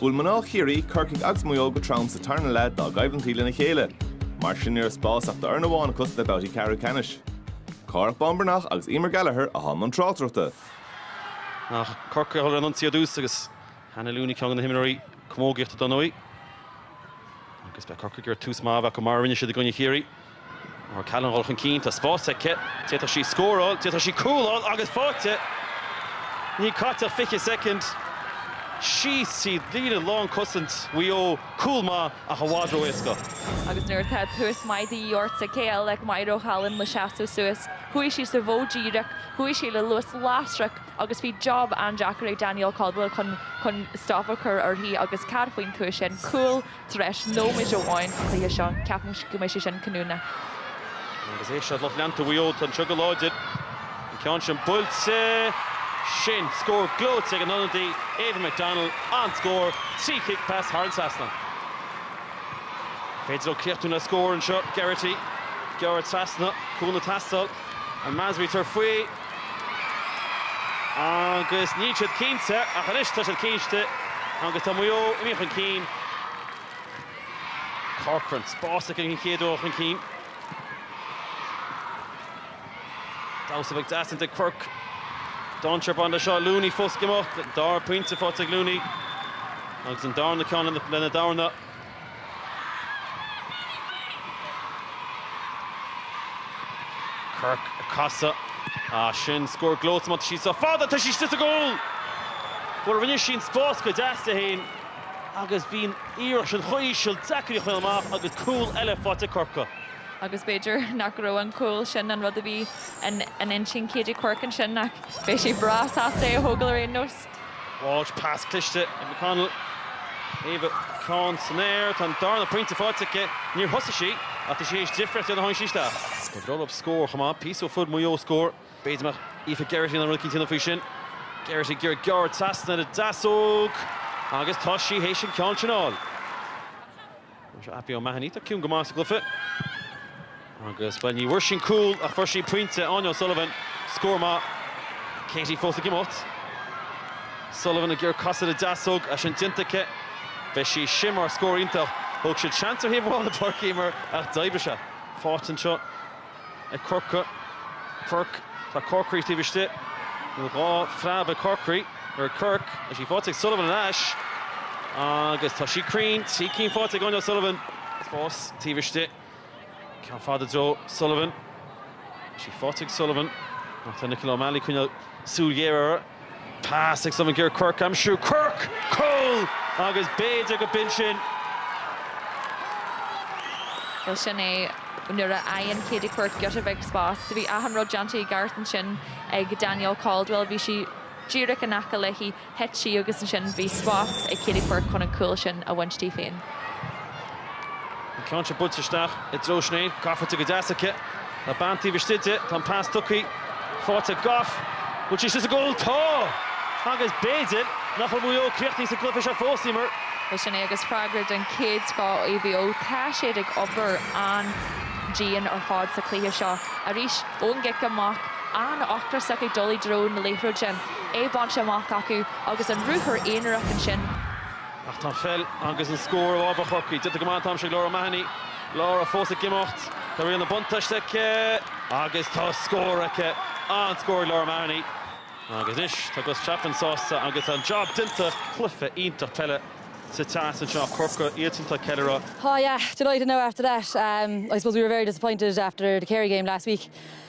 Bhuail mná Chiarraí, Corcaigh agus Maigh Eo go trom sa tarna leath dá gcoimhlintí lena chéile. Mar sin ní raibh spás ach d'fhoireann amháin acu sna babhtaí ceathrú ceannais. Cárthach Bán Breathnach agus Emer Gallagher a chuaigh i mbun tráchtaireachta. Ach Corcaigh ag dul ar an ionsaí ar dtús agus Hannah Looney ceann de na himreoirí camógaíochta dar ndóigh. Agus beidh Corcaigh ag iarraidh tús maith a bheith acu mar a rinne siad i gcoinne Chiarraí. O'Callaghan ag dul chun cinn, tá spás aici, d'fhéadfadh sí scóráil, d'fhéadfadh sí cúl a fháil agus faighte! Níl caite ach 20 soicind, síos tríd líne lán cosaint Mhaigh Eo, cúl maith ach i bhfad ró éasca. Agus nuair atá tús maith de dhíth ort, cé eile ach Máire O'Callaghan le seasamh suas. Chuaigh sí sa mhodh díreach, chuaigh sí le luas lasrach agus bhí job an-deacair ag Danielle Caldwell chun stop a chur uirthi agus cad faoin tús sin? Cúl! tar éis nóiméid amháin den chluiche seo. Ceapaim go mbeidh sé sin cinniúnach. Agus é seo lucht leanta Mhaigh Eo anseo go láidir. An ceann sin buailte. Sin scór gleoite ag an ionadaí Ava McDonnell. An-scór trí chic pas thar an trasnán. Féidir leo críochnú le scór anseo. Geraghty ag gearradh trasna, cúl ag teastáil. An Masry tar faoi agus níl siad cinnte ach anois tá siad cinnte agus tá Maigh Eo imithe chun cinn. Corcoran, spás aici an chéad uair chun cinn. Damhsa beag deas déanta ag Quirke. Dainséar ag baint leis seo Looney fós ag imeacht. Dara pointe faighte ag Looney. Agus an darna ceann lena dorn. Quirke ag casadh. Ah sin scór gleoite má tá sí sách fada tá sí istigh sa gcúl! Bhuel rinne sí an spás go deas di féin agus bhí an iarracht sin chomh híseal, deacair í a choinneáil amach agus cúl eile faighte ag Corcaigh. Agus b'fhéidir nach raibh an cúl sin an rud a bhí in intinn Katie Quirke ansin ach beidh sí breá sásta é a thógáil ar aon nós. Walsh, pas cliste ag McDonnell. Ava, ceann san aer, tá an darna pointe faighte aici. Níor thosaigh sí, ach tá sí théis difríocht a dhéanamh ó tháinig sí isteach. Ba bhreá leo scór chomh maith, píosa ó fuair Maigh Eo scór. B'fhéidir go mbeadh Aoife Geraghty in ann rud éicint a dhéanamh faoi sin. Geraghty ag iarraidh gearradh trasna ar an deasóg agus tá sí théis an ceann sin a fháil. Seo Abbie O'Mahony, tá ciúin go maith sa gcluiche. Agus bhuel ní bhfuair sí cúl ach fuair sí pointe Áine O'Sullivan, scór maith. Katie fós ag imeacht. Sullivan ag iarraidh casadh ar an deasóg, tá sin déanta aici. Beidh sí sin mar scór iontach. Thóg siad seans ar thaobh amháin na páirce mar ach d'oibrigh sé. Faighte anseo. ag Corcaigh. Quirke, tá Corkery taobh istigh. Nó dhá phreab ag Corkery ar Quirke. Tá sí faighte ag Sullivan ar ais. Agus tá sí cruinn. Trí cinn faighte ag Áine O'Sullivan. Spás taobh istigh. Ceann fada i dtreo Sullivan. Tá sí faighte ag Sullivan. Ach tá Nicola O'Malley ag coinneáil súil ghéar uirthi. Pas ag Simon Katie Quirke aimsiú, Quirke! Cúl! Agus b'fhéidir gurb in sin. Bhuel sin é, nuair a fhaigheann Katie Quirke giota beag spás. Bhí achan rud déanta i gceart ansin ag Danielle Caldwell. Bhí sí díreach in aice léi, thit sí agus ansin bhí spás ag Katie Quirke chun an cúl sin a bhaint di féin. An ceann seo buailte isteach i dtreo Sinéad. Gafa go deas aici. Tá bean taobh istigh di. Tá an pas tugtha, faighte ag Gough. Bhfuil sí sa gcúl? Tá! Agus b'fhéidir nach bhfuil Maigh Eo críochnaithe sa gcluiche seo fós, Emer. Bhuel sin é agus freagra den chéad scoth ó Mhaigh Eo. Tá siad ag obair an-dian ar fad sa chluiche seo. Arís ón gcic amach, an-ocrasach ag dul i dtreo na liathróide, é bainte amach acu agus an ruathar aonarach ansin. Ach tá an pheil agus an scór i bhfabhar Chorcaí. Déanta go maith an t-am seo ag Laura O'Mahony. Laura fós ag imeacht. Tá riail na buntáiste aici agus tá scór aici. An-scór ag Laura O'Mahony. Agus anois tá Gus Chapman sásta agus an jab déanta. Cluiche iontach peile sa teas anseo. Corcaigh atá ag ceiliúradh. Oh yeah, delighted now after that. I suppose we were very disappointed after the Kerry game last week.